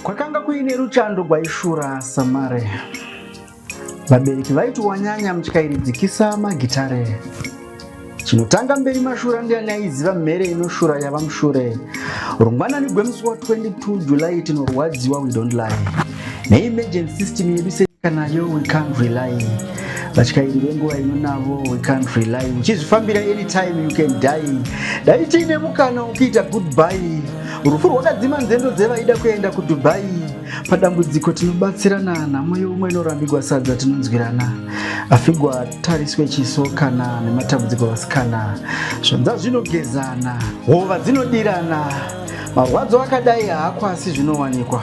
Kwakanga kuine ruchando gwaishura samare. Vabereki vaiti wanyanya mutyairidzikisa magitare. Chinotanga mberi mashura ndiani aiziva mhere inoshura yava mushure. Rungwanani gwemusi wa 22 July tinorwadziwa we don't lie. ne emergency system yedu senyika nayo we can't rely vatyairi venguva ino navo we can't rely uchizvifambira anytime you can die dai tiine mukana wokuita goodbye rufu rwakadzima nzendo dzevaida kuenda kudubai padambudziko tinobatsirana nhamo yeumwe inorambigwa sadza tinonzwirana afigwa tariswe chiso kana nematambudziko vasikana zvanza zvinogezana hova dzinodirana marwadzo akadai haakwasi zvinowanikwa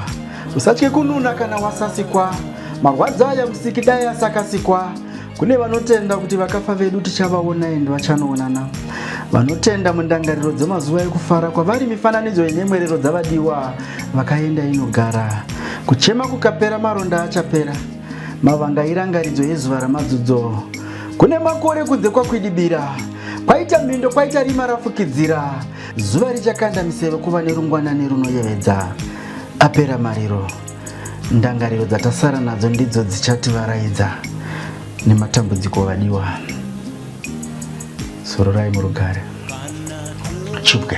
Usatye kununa kana wasasikwa, marwadzo aya musiki dai asakasikwa. Kune vanotenda kuti vakafa vedu tichavaona endi vachanoonana. Vanotenda mundangariro dzemazuva ekufara kwavari mifananidzo yenyemwerero dzavadiwa vakaenda inogara. Kuchema kukapera maronda achapera. Mavanga irangaridzo yezuva ramadzudzo. Kune makore kunze kwakwidibira kwaita mhindo kwaita rima rafukidzira zuva richakanda miseve kuva nerungwanani runoyevedza Apera mariro, ndangariro dzatasara nadzo ndidzo dzichativaraidza nematambudziko vadiwa. Sororai murugare. Chipwe.